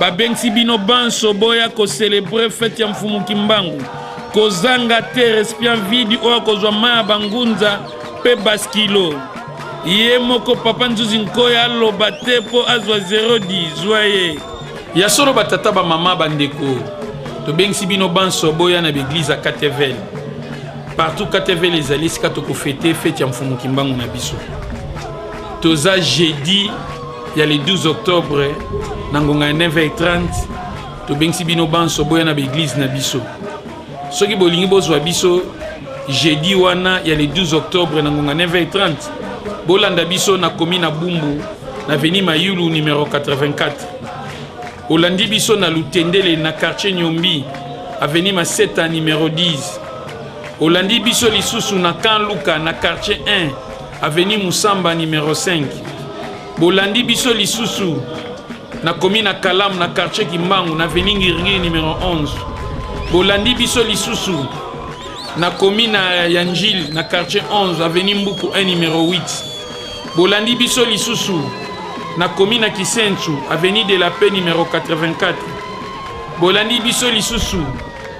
Babengisi bino banso boya ko celebrer fete ya Mfumu Kimbangu. Kozanga te recipient vide oyo akozwa mai ya bangunza mpe baskilo. Ye moko Papa Nzuzi Nkoy aloba te mpo azwa 010 zwa ye. Ya solo batata bamama bandeko tobengisi bino banso boya na baeglize ya katevel partout katevel ezali esika tokofete fete ya mfumu kimbangu na biso toza jeudi ya le 12 octobre na ngonga ya 9h30 tobengisi bino banso boya na baeglize na biso soki bolingi bozwa biso jeudi wana ya le 12 octobre na ngonga 9h30 bolanda biso na komi na bumbu na veni mayulu numero 84 olandi biso na lutendele na quartier nyombi aveni maseta numero 10 olandi biso lisusu na kan luka na quartier 1 Avenue Musamba numero 5. Bolandi biso lisusu na commune ya Kalamu na quartier Kimbangu na avenue Ngiringiri numero 11. Bolandi biso lisusu na commune ya Njili na quartier 11 avenue Mbuku 1 numero 8. Bolandi biso lisusu na commune ya Kisensu avenue de la Paix numero 84. Bolandi biso lisusu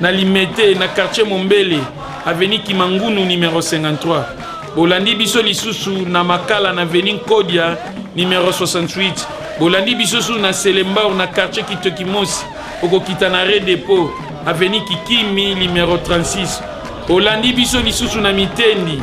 na Limete na quartier Mombele avenue Kimangunu numero 53. Bolandi biso lisusu na Makala na Avenue Nkodia numero 68. Bolandi biso lisusu na Selembao na quartier Kitokimosi, okokita na Re Depot Avenue Kikimi numero 36. Olandi biso lisusu na Mitendi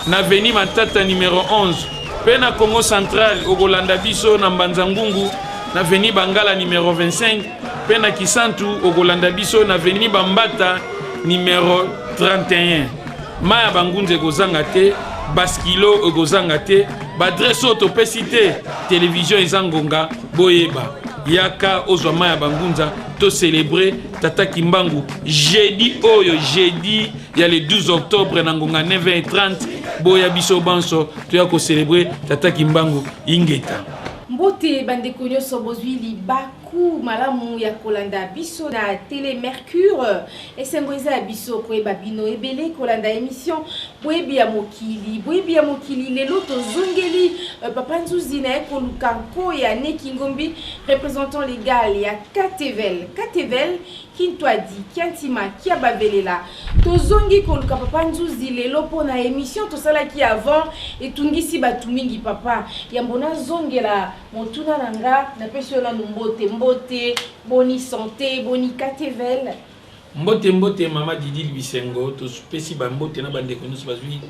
na Avenue Matata numero 11 mpe na Congo Central okolanda biso na Mbanza Ngungu na Avenue Bangala numero 25 mpe na Kisantu okolanda biso na Avenue Bambata numero 31. mai ya bangunza ekozanga te baskilo ekozanga te baadrese oyo topesi te televizio eza ngonga boyeba yaka ozwa mai ya bangunza tocelebre tata kimbangu jeudi oyo jeudi ya le 12 octobre na ngonga 9h30 boya biso banso toya kocelebre tata kimbangu ingeta mbote bandeko nyonso bozwi liba Cours malamu ya kolanda biso na tele Mercure. Esengo eza ya biso koyeba bino ebele kolanda emission boyebi ya mokili. Boyebi ya mokili lelo tozongeli euh, papa Nzuzi na ye koluka nko ya Nekingombi représentant légal ya Katevel. Katevel Kintwadi Kiantima Kiababelela. Tozongi koluka papa Nzuzi lelo mpo na emission tosalaki avant etungisi bato mingi papa. Yambo nazongela Motuna na nga, na pesi yo nanu mbote, mbote, boni sante, boni katevel. Mbote mbote mama Didil Bisengo, topesi ba mbote na ba ndeko nionso bazui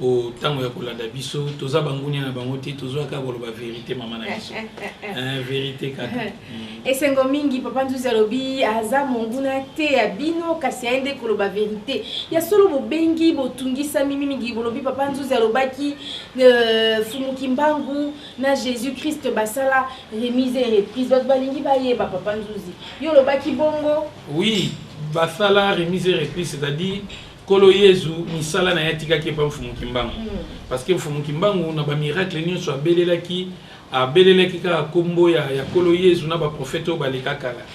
o tango ya kolanda biso, toza bangunia na bango te, tozoya kaka koloba verite mama na biso. Eh, verite kaka. Mm. Esengo mingi papa Nzuzi alobi aza monguna te ya bino kasi aye nde koloba verite. Ya solo bobengi botungisami mingi bolobi papa Nzuzi alobaki euh, Fumu Kimbangu na jesus christ basala remise et reprise bato balingi bayeba papa nzuzi yo olobaki bongo oui basala remise et reprise c'est-à-dire nkolo yezu misala na ye atikaki epa mfumu kimbangu hmm. parce que mfumu kimbangu na bamiracle nyonso abelelaki abelelaki kaka nkombo ya nkolo yezu na baprofete oyo baleka kala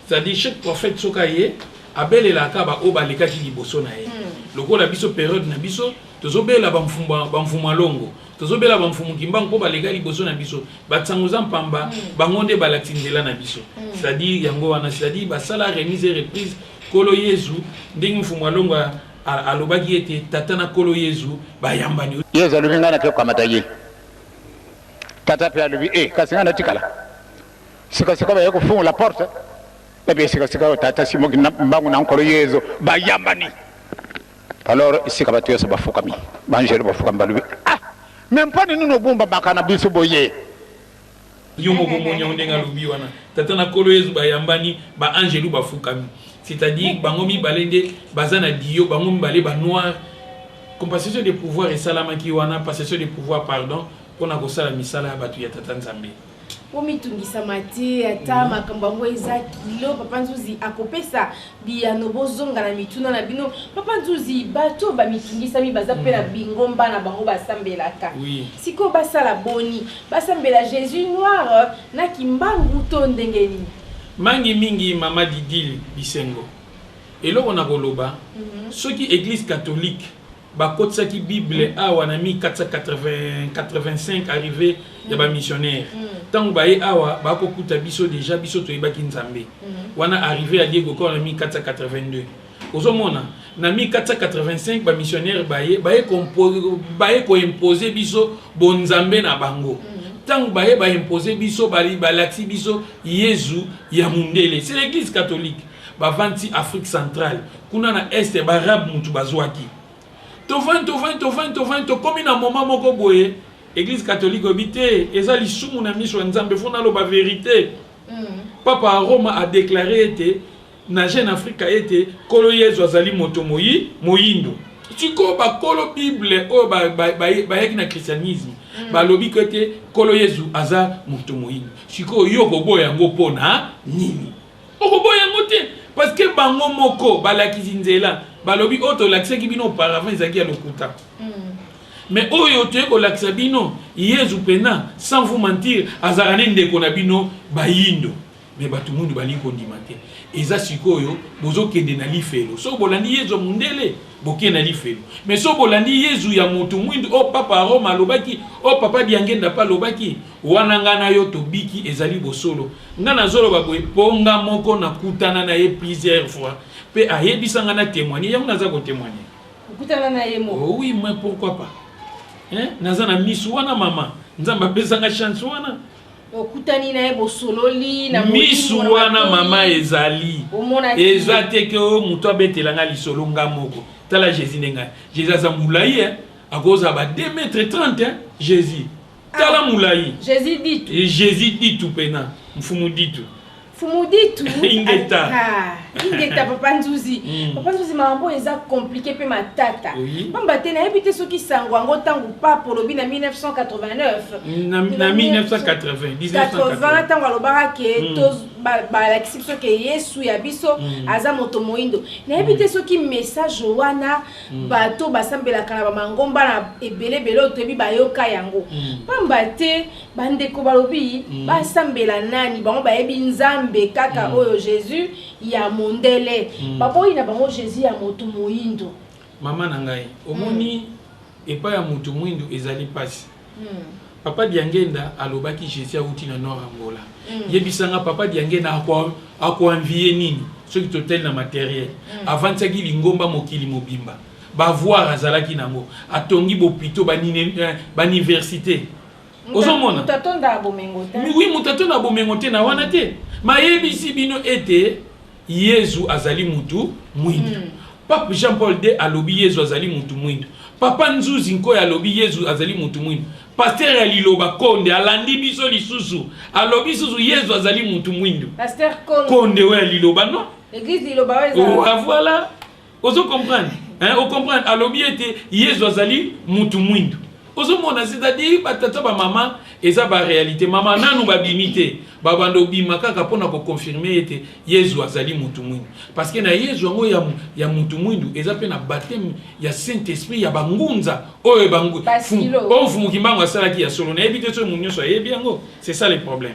c'est-à-dire chaque prophète soki aye abelelaka baoyo balekaki liboso na ye hmm. lokola biso periode na biso tozobela bamfumu ya longo Tozobela ba mfumu kimbangu mpo baleka liboso na biso. Ba tsanguza mpamba mm. bango nde balakisi nzela na biso. Mm. C'est-à-dire yango wana, c'est-à-dire basala remise et reprise kolo Yezu ndenge mfumu alongwa alobaki ete tata na kolo Yezu bayambani. Yezu alobi ngai nakoki kokamata ye. Tata mpe alobi e kasi ngai natikala. Sikasika baye kofungola porte ebe sikasika oyo tata simoki mbangu na nkolo Yezu bayambani. Alors esika batu yoso bafukami, ba angelu bafukami balobi ah mais mpone nini ogumbamaka na biso boye? Yo moko omoni yango ndenge alobi wana, Tata na Nkolo Yezu bayambani, ba angelu bafukami. C'est à dire bango mibale nde baza na duo, bango mibale ba noir. Compassation de pouvoir esalamaki wana, passation de pouvoir pardon, pona kosala misala ya batu ya Tata Nzambe. bomitungisama te ata mm. makambo yango eza kilo papa nzuzi akopesa biyano bozonga na mituna na bino papa nzuzi bato bamitungisami baza mpe na mm. bingomba na bango basambelaka sikoyo basala boni basambela jésus noir na kimbangu to ndenge nini mangi mingi mama didile bisengo eloko na koloba mm -hmm. soki église catholique bakotisaki bible awa na 1485 arrive mm. ya bamissionnaire ntango mm. baye awa bakokuta biso deja biso toyebaki nzambe mm. wana arrive ya diego kor na 1482 ozomona na 1485 bamissionnaire baye baye koimpose biso bonzambe na bango ntango baye baimpose biso balakisi biso yezu ya mondele c'est l'église catholique bavandi afrique centrale kuna na este baarabe mutu bazwaki tovandi tovandi tovandi tovandi tokomi na moma moko boye eglise catholique oyebi te eza lisumu na miso ya nzambe fo naloba verite mm. papa ya roma adeklare ete na jeune afrique ete nkolo yezu azali moto moyi moyindo sikoyo bakolo bible oyo bayaki na christianisme mm. balobi ko ete nkolo yezu aza moto moyindo sikoyo yo koboya yango mpo na nini Okoboya yango te parce que bango moko balakisi nzela balobi oyo tolakisaki bino auparavant ezalaki ya lokuta mais oyo toye kolakisa bino yezu mpena sans vous mentir azalaka ne ndeko na bino bayindo me bato mundu balingi kondima te eza sikoyo bozokende na lifelo soki bolandi yezu ya mundele bokei na lifelo me soki bolandi yezu ya moto mwindu oyo oh, papa roma alobaki oyo oh, papa diangenda mpe alobaki Wana nga na yo tobiki ezali bosolo. Nga nazoloba boye po nga moko nakutana na ye plusieurs fois pe ayebisa nga na temoigner yango naza ko temoigner. Okutana na ye moko? Oh oui, mais pourquoi pas? Hein? Naza na misu wana mama. Nzambe apesa nga chance wana. okutani na ye bosololi na misu wana mama ezali eza te ke oyo moto abetela nga lisolo nga moko tala jésus nde ngai jésus aza molai eh? akozala ba 2 mètre 30 eh? jésus tala mulayi jesus ditu eh, jesus ditu pena mfumu ditu mfumu ditu ingeta ah, ingeta papa nzuzi mm. papa nzuzi makambo eza komplike mpe matata mpamba te nayebi te soki sango yango ntango pape olobi na 1989 na 1980 ntango alobaka ke mm. balakisi biso ke yesu ya biso mm. aza moto moindo nayebi te soki message wana bato oyo basambelaka na bamangomba na ebele ebele oyo toyebi bayoka yango mm. mpamba te bandeko balobi mm. basambela nani bango bayebi nzambe kaka mm. oyo jésus ya mondele baboyi na bango jésus ya moto moyindo mama na ngai omoni epai ya moto moyindo ezali mpasi Papa Diangenda alobaki Jesus awuti na Nord Angola. Yebisa nga Papa Diangenda a ko envier nini soki totali na materiel. Avandisaki lingomba mokili mobimba. Ba voir azalaki nango. Atongi b'hopitaux, ba niversite. Ozo mona? Mutu atondaka bomengo te. Oui mutu atondaka bomengo te na wana te. Mais ayebisi bino ete. Yezu azali mutu mwindu. Pape Jean Paul ii alobi Yezu azali mutu mwindu. Papa Nzuzi Nkoy alobi Yezu azali mutu mwindu. Pasteur ya liloba Konde alandi biso lisusu alobi lisusu Yezu azali mutu mwindu. Pasteur Konde. Konde oyo ya liloba non? Eglise liloba oyo eza. Oa voila. ozo comprendre hein o comprendre alobi ete yezu azali mutu mwindu ozomona c'est-à-dire batata bamama eza barealité mama nanu babimi te babanda obima kaka mpona koconfirme ete yezu azali mutu mwindu parce que na yezu yango ya, ya mutu mwindu eza mpe na bateme ya saint esprit ya bangunza oyo oyo mfumu kimbangu asalaki ya solo nayebi te soki moto nyonso ayebi yango c'est ça le problème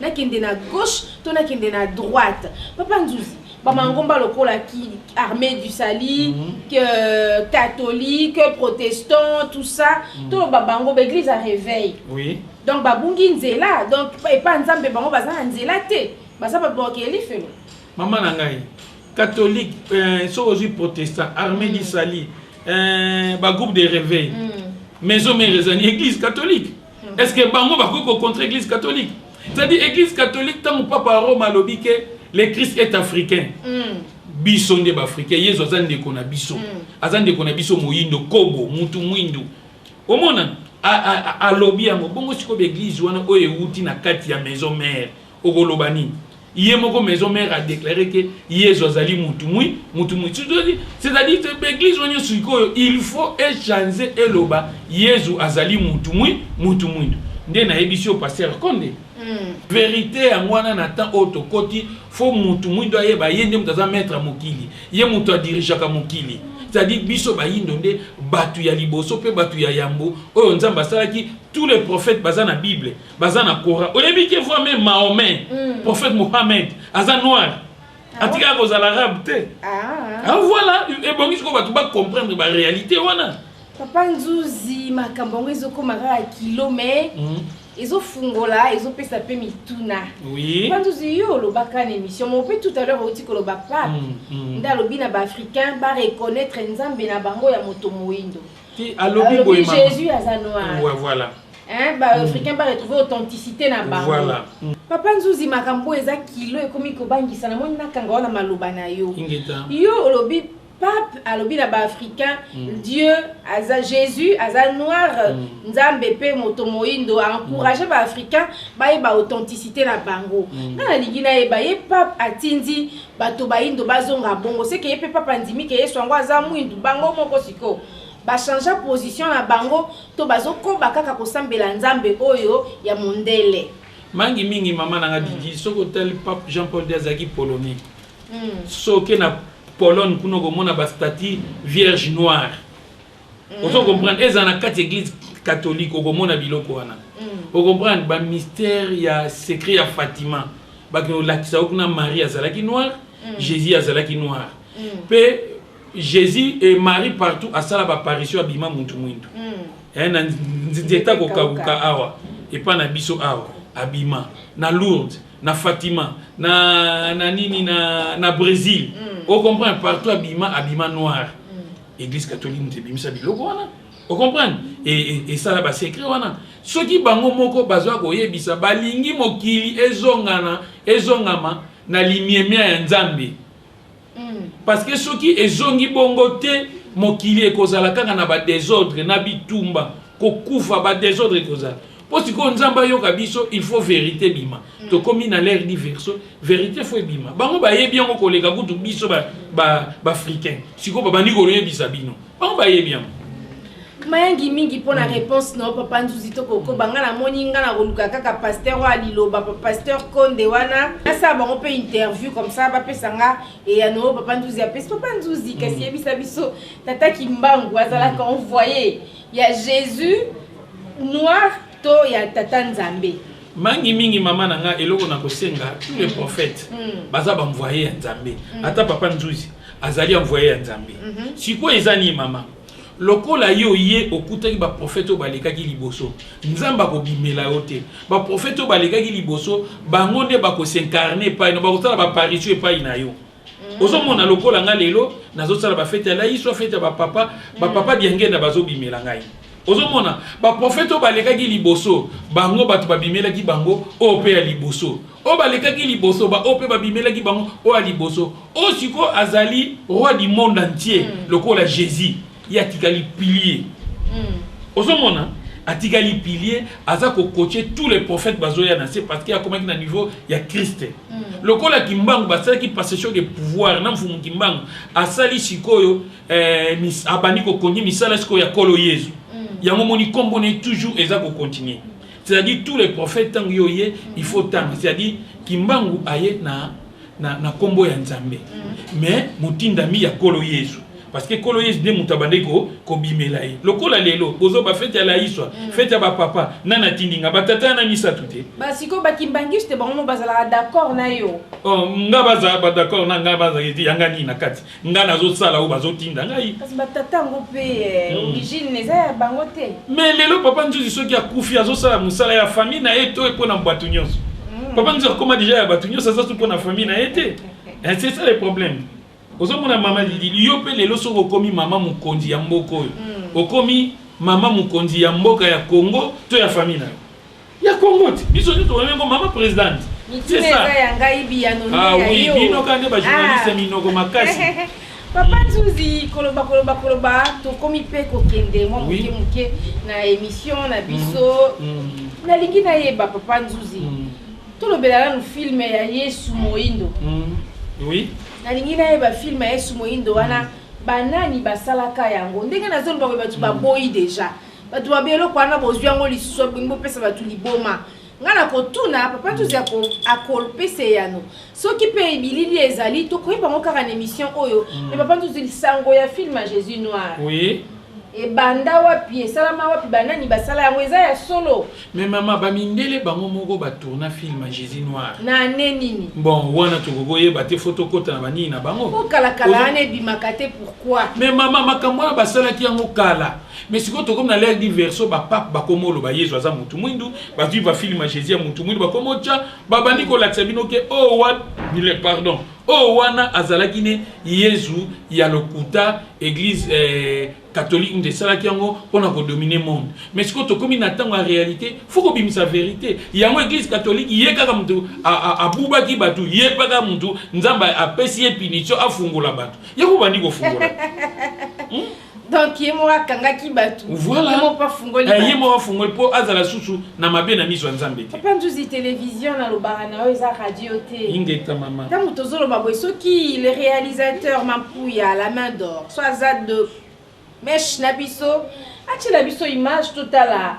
nakende na gauche to nakende na droite papa nzuzi bamangomba lokola ki armée du sali mm -hmm. que, euh, catholique protestant tout ça mm -hmm. toloba bango baeglise ya réveil oui. donc babungi nzela donc epa nzambe bango baza na nzela te baza babokeli felo mama na ngai catholique euh, soki ozwi protestant armée mm -hmm. du sali euh, bagroupe de réveil mm -hmm. maison mère ezali église catholique est ce que bango bakoki ko contre église catholique c'est à dire église catholique tango papa ya rome alobi ke le christ est africain mm. biso nde baafrika yezu aza ndeko na biso mm. aza ndeko na biso moyindo kobo mutu mwindu omona alobi yango bongo sikoyo baeglize wana oyo ewuti na kati ya maison mare Okoloba nini? Ye moko maison mère a declare que Yezu azali mutu mwi mutu mwi c'est à dire ba eglise wana nionso sikoyo il faut e chanze eloba Yezu azali mutu mwi mutu mwindo nde nayebisi yo pasteur konde verite yango wana na temps oyo tokoti faut mutu mwindo ayeba ye nde mutu aza maitre ya mokili ye mutu a dirigeaka mokili c'est à dire biso bayindo nde batu ya liboso pe batu ya yambo oyo Nzambe asalaki tous les prophètes baza na bible baza na kora oyebi ke voit meme mahomet mm. prophète mohamed aza noir ah, atikaka kozala arabe te ah. ah voilà ebongi sikoyo bato bacomprendre baréalité wana papa nzuzi makambo yango ezokoma kaka kilo mai mm. ezofungola ezopesa mpe mituna oui. papa nzuzi yo olobaka na émission mo mpe tout à l'heure outi koloba pape mm, mm. nde alobi na baafricain bareconnaitre nzambe na bango ya moto moindo ti alobi boye mama Jésus aza noir ouais voilà hein ba hmm. africain ba retrouver authenticité na bango voilà hmm. papa nzuzi makambo eza kilo ekomi kobangisa na moni nakanga wana maloba na yo yo olobi pape alobi na baafricain mm. dieu aza jésus aza noir mm. nzambe mpe moto moindo aencourage mm. baafricain bayeba authenticité na bango mm. nga nalingi nayeba ye pape atindi Bato bayindo bazonga bongo se ke ye pe Pape andimi ke Yesu yango aza mwindu? Bango moko sikoyo ba changea position na bango to bazo koba kaka kosambela Nzambe oyo ya mondele? Mangi mingi maman na nga Didi, soki otali Pape Jean Paul ii azalaki polonais. Soki oke na Pologne kuna okomona ba statues vierges noires. mm. ozo comprendre ezala na kati église catholique okomona biloko wana mm. ocomprendre bamystère ya secret ya fatima bakende kolakisa yo kuna marie azalaki noire mm. jésus azalaki noire mpe mm. jésus et marie partout asala baparitio abima muntu mwindu mm. eh, na nzeta kokabuka awa epai na biso awa abima na lourde na fatima na, na nini na, na brésil mm. ocomprendre partout abima abima noire Eglise catholique mutu ebimisa biloko wana o comprendre esala ba secret wana soki bango moko baza koyebisa balingi mokili ezongana ezongama na limiemia ya nzambe hmm. parce que soki ezongi bongo te mokili ekozala kaka na ba desordre na bitumba kokufa ba desordre ekozala po sikoyo nzambe ayoka biso il faut verite ebima mm. tokomi na l'air di verso verite fo ebima bango bayebi yango koleka kutu biso baafricain ba, ba sikoyo babandi koloyebisa bino bango bayebi yango mayangi mingi mpo na mm. réponse na yo papa nzuzi tokokoba ngai namoni ngai nakoluka kaka pasteur oyo aliloba pasteur konde wana nasala bango mpe interview comme ça bapesa nga eyano oyo papa nzuzi apesi papa nzuzi kasi mm. yebisa biso tata kimbangu azalaka envoye Ya Jesus noir to ya tata nzambe. Mangi mingi mama na nga eloko na kosenga tous les prophètes mm. baza ba envoyer ya nzambe mm. ata papa nzuzi azali envoyer ya nzambe mm -hmm. sikoyo eza ni mama lokola ye oye okutaki baprofete oyo balekaki liboso nzambe akobimela yo te baprofete oyo balekaki liboso bango nde bakosincarne epai na bakosala baparitio epai na yo Mm. ozomona lokola ngai lelo nazosala bafete ya laiso fete ya bapapa mm. bapapa diangenda bazobimela ngai ozomona baprofete oyo balekaki liboso bango bato babimelaki bango oyo mpe ya liboso oyo balekaki liboso baoyo mpe babimelaki bango oyo ya liboso oyo sikoyo azali roi du monde entier mm. lokola jésus ye atikali pilier ozomona atikali pilier aza kokoce tous les prophètes bazoya na se parce que akomaki na niveau ya christ mm. lokola kimbangu basalaki passation de pouvoir na mfumu kimbangu asali sikoyo eh, mis, abandi kokonye misala sikoyo ya kolo yezu mm. yango moni nkombo ne toujours eza kokontinue C'est-à-dire tous les prophètes tango yo ye il faut tanga c'est-à-dire kimbangu aye na na na kombo ya Nzambe mm. mais motindami ya kolo Yesu parce que kolo Yesu nde moto abandaki ko kobimela ye lokola lelo bozo ba fete ya laiswa mm. fete ya ba papa na na tindinga ba tata na misato te ba siko ba kimbangiste bango bazalaka d'accord na yo oh nga baza ba d'accord na nga baza yanga nini na kati nga nazosala oyo bazotinda ngai kasi batata yango mpe eh, hmm. origine eza ya bango te me lelo papa nzuzi soki akufi azosala mosala ya famille na ye to mpo na bato nyonso hmm. papa nzuzi akoma deja ya bato nyonso aza so mpo na famille na ye te eh, c'est ça le problème ozomona mama lili yo mpe lelo soki okomi mama mokonzi ya mboka oyo hmm. okomi mama mokonzi ya mboka ya congo to ya famille na yo ya congo ti biso nde tobami yango mama presidente mituna eza ya ngai biyano nde ah ya oui, yo bino kaka nde bajournaliste ya ah. minoko makasi papa nzuzi koloba koloba koloba tokomi mpe kokende mwa moke moke na émission na biso mm. Mm. nalingi nayeba papa nzuzi mm. tolobela nanu filme ya yesu moindo oui nalingi nayeba filme ya yesu moindo wana banani basalaka yango ndenge nazoloba bato baboyi deja bato babe eloko wana bozwi yango lisusu abongi bopesa bato liboma ngai nakotuna papa tuzi akopesa eyano soki mpe bilili ezali tokoyeba yango kaka na émission oyo mm. me papa tuzi lisango ya filme ya jésus noir oui. ebanda wapi esalama wapi banani basala yango eza ya solo me mama bamindele bango moko batourna film ya jésus noir na ane nini bon wana tokoki koyeba te fo tokota na banini na bango okalakala wana ebimaka te pourkui me mama makambo wana basalaki yango kala Mais sikoyo tokomi na l'ère du verso ba pape bakomi oloba Yezu aza mutu mwindu, bazui ba film ya Jesus ya mutu mwindu bakomi otia, babandi kolakisa bino ke oyo wa bile pardon oyo wana azalaki ne Yezu ya lokuta eglise eh, catholique nde esalaki yango mpo na kodomine monde mais sikoyo tokomi na ntango ya réalité fo kobimisa verité yango église catholique ye kaka moto abubaki bato ye mpe kaka moto nzambe apesi ye punition afungola bato ye kobandi kofungola hmm? donc ye moko akangaki bato voilà. ye moko afungoli eh, ye moko afungoli mpo azala susu na mabe na miso ya nzambe te papa nzuzi televizio nalobaka na yo eza radio te ingeta mama ntango tozoloba boye soki le réalisateur mampuya la main d'or so aza de meshe na biso atyela biso image totala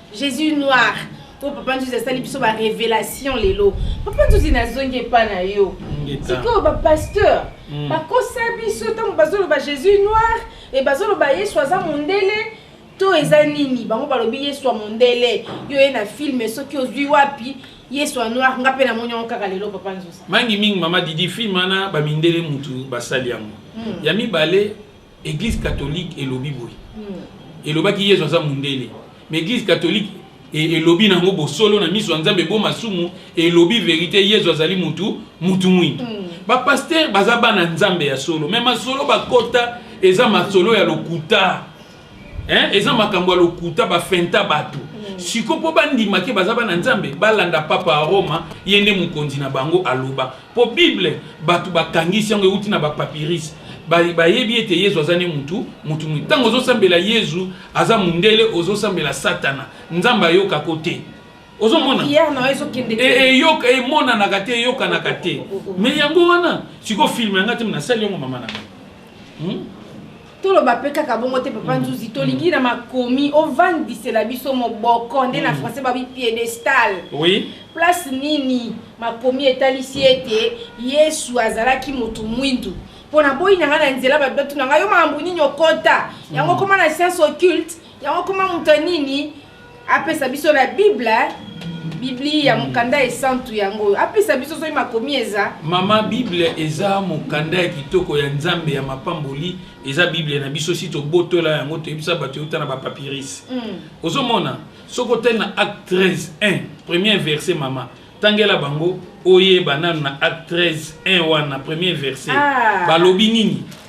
jesus noir po papa nzuzi asali biso ba révélation lelo papa nzuzi nazongi epa na yo sikoyo bapasteur mm. bakosa biso ntango bazoloba jésus noir e bazoloba yesu aza mondele to eza nini bango balobi yesu ya mondele yo ye na filme soki ozwi wapi yesu ya noir nga mpe namoni yango kaka lelo papa nzuzi mangi mingi mama didi filme wana bamindele mutu basali yango mm. ya mibale Eglise catholique elobi boye. Elobaki Yezu aza mundele. Mais eglise catholique e, elobi nango bosolo na miso ya Nzambe bo masumu elobi verite Yezu azali mutu mutu mwindu. Mm. Ba pasteur baza bana Nzambe ya solo mais masolo bakota eza masolo ya lokuta. Hein? Eza makambo ya lokuta ba fenta batu. Mm. Siko po bandima ke baza bana Nzambe balanda papa ya Roma ye nde mokonzi na bango aloba. Mpo Bible, bato bakangisi yango, euti na ba-papyrus. Ba, bayebi ete Yezu aza nde moto, moto moye. Ntango ozosambela Yezu, aza mundele, ozosambela Satana. Nzambe ayokaka yo te. Ozomona? Prière na yo ezokende te. E, eyoka, emonanaka te, eyokanaka te. Mais yango wana, sikoyo film ya ngai te, mais nasali yango mama na ngai. Hmm? toloba pe kaka bongo te papa nzuzi tolingi na makomi ovandisela biso moboko nde na français babi piedestal oui place nini makomi etalisi ete yesu azalaki motu mwindu mpo na boyi na ngai na nzela bato batuna ngai yo makambo nini okota yango okoma na science occulte yango okoma moto ya nini apesa biso na bible biblia mokanda esantu yango oyo apesa biso soki makomi eza mama bible eza mokanda ya kitoko ya nzambe ya mapamboli eza bible na biso si tobotola yango toyebisa bato euta na bapapirise mm. ozomona soki otali na acte 13 1 premier verset mama tangela bango oyeba nano na acte 13 1 wana premier verset ah. balobi nini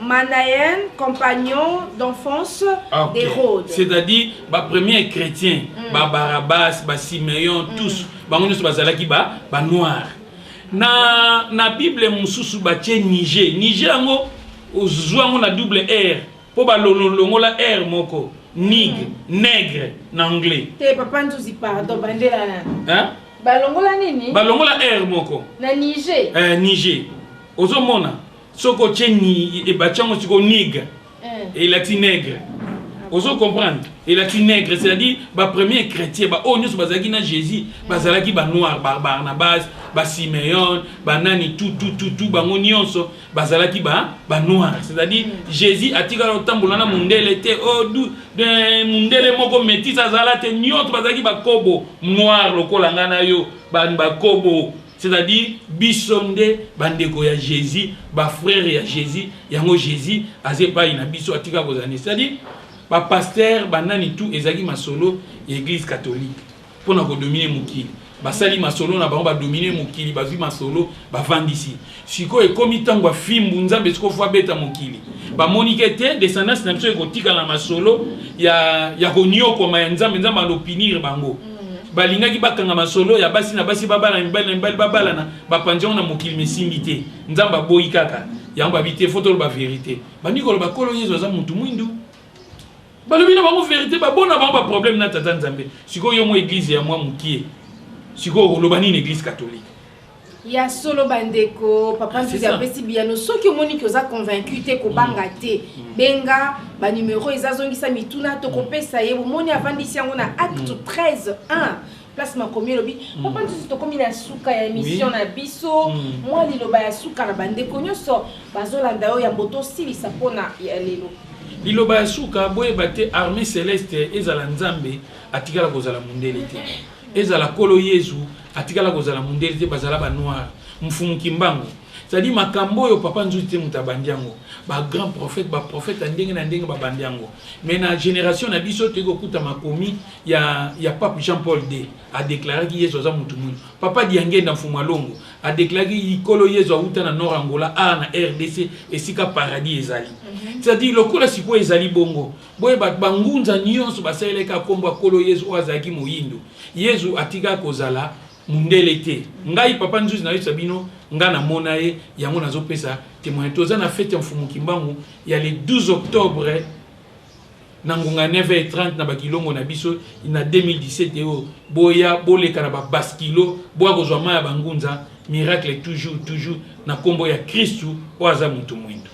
Manaen, compagnon d'enfance ah, okay. d'Hérode. C'est-à-dire, ba premiers chrétiens, mm. ba Barabbas, ba Simeon, mm. tous, bango nyonso bazalaki ba ba noirs. Na na Bible mosusu batie Niger. Niger yango ozwa yango na double R mpo balongonla R moko. Nig, mm. nègre na anglais. Te papa nzuzi pardon, bandela na. Hein? Balongola nini? Balongola R moko. Na Niger. Eh, Niger. Ozomona? soki otie ni e, batie yango sikoyo nig eh. elati negre ozo comprendre elati negre c'est-à-dire bapremier chrétien baoyo nyonso bazalaki na jésus bazalaki banoir babarnabas basimeon banani tutututu bango nyonso bazalaki banoir c'est-à-dire mm. jésus atikala otambola na mondele te oh, mondele moko métis azala te nyonso bazalaki bakobo noir lokola ngai na yo bakobo C'est à dire biso nde bandeko ya Jésus, ba frères ya Jésus, yango Jésus aza epai na biso atika kozala nde. C'est à dire ba pasteurs banani tout ezalaki masolo ya église catholique mpo na kodomine mokili basali masolo na bango badomine mokili bazwi masolo bavandisi sikoyo ekomi ntango ya fimbu nzambe sikoyo fo abeta mokili bamoni ke te descendance na biso ekotikala na masolo ya, ya konyokwama ya nzambe nzambe alopinire bango balingaki bakanga masolo ya basi na basi babalana mibali na mibali babalana bapanzi yango na mokili mesimbi te nzambe aboyi kaka yango babi te fo toloba verité bandi koloba kolo yezu aza mutu mwindu balobi na bango verité babona bango baproblème na tata nzambe sikoyo yo mwa eglize ya mwa mokie sikoyo oloba nini eglize catholique ya solo bandeko papa nzuzi apesi biyano soki omoni ke oza convaincu te kobanga mm. te mm. benga banumero eza zongisa mituna tokopesa ye bomoni avandisi yango na acte 13 mm. 1 place makomi elobi hmm. papa nsusu tokomi na suka ya émission na biso hmm. mwa liloba ya suka na bandeko nyonso bazolanda yo yambo tosilisa mpona ya lelo liloba ya suka boyeba te armée céleste ezala nzambe atikala kozala mondele te ezala kolo yezu Atikala kozala mundele te bazala ba noir mfumu kimbangu c'est à dire makambo oyo papa nzuzi te moto abandi yango ba grand prophète ba prophète ya ndenge na ndenge babandi yango mais na génération na biso toyei kokuta makomi ya, ya pape jean paul d adeklaraki yesu aza motu mwindu papa diangenda mfumu alongo adeklaraki likolo yesu awuta na nord angola a na rdc esika paradis ezali mhm. c'est à dire lokola sikoyo ezali bongo Boye bato ba ngunza nyonso basalelaki kaka nkombo ya Nkolo Yezu, oyo azalaki moyindo. Yezu atikaki kozala mundele te. Ngai, Papa Nzuzi, nayosa bino, ngai namona ye, yango nazopesa temoignage. Toza na fete ya Mfumu Kimbangu ya le 12 octobre na ngonga ya 9h30 na ba kilongo na biso na 2017 eyo. Boya, boleka na ba baskilo, boya kozwa mayi ya ba ngunza. Miracle toujours, toujours, na nkombo ya Kristu oyo aza moto moyindo.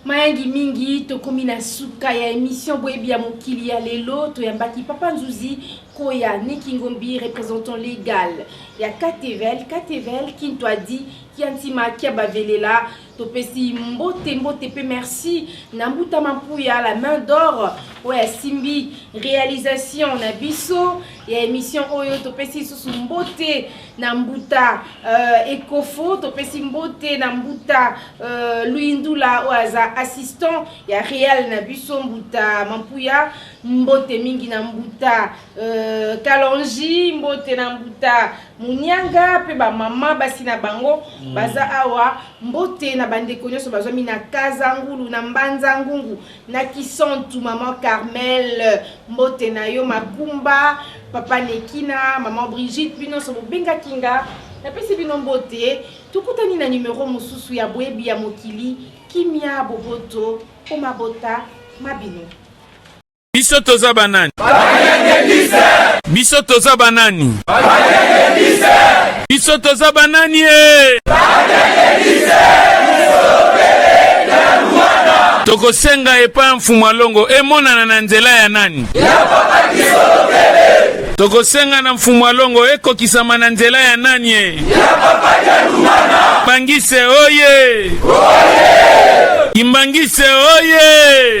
mayangi mingi tokomi na suka ya emission boyebi ya mokili ya lelo toyambaki papa nzuzi koya nikingombi représentant légal ya katevel katevel kinto adi kia ntima kia bavelela topesi mbote mbote mpe merci na mbuta mampuya la main d'or oyo asimbi réalisation na biso ya émission oyo topesi lisusu mbote na mbuta euh, ekofo topesi mbote na mbuta euh, luindula oyo aza assistant ya real na biso mbuta mampuya mbote mingi na mbuta euh, kalonji mbote na mbuta monianga mpe bamama basi na bango mm. baza awa mbote na bandeko nyonso bazwami na kazangulu na mbanza ngungu na kisantu maman carmel mbote na yo makumba papa nekina maman brigitte bino nyonso bobengaki nga napesi bino mbote tokutani na nimero mosusu ya boyebi ya mokili kimia boboto mpo mabota ma bino biso toza banani biso toza banani Biso toza banani e? Tokosenga epai ya mfumu alongo emonana na nzela ya nani? Ya papa tokosenga na mfumu alongo ekokisama na nzela ya nani e? bangise oye, oye! kimbangise oye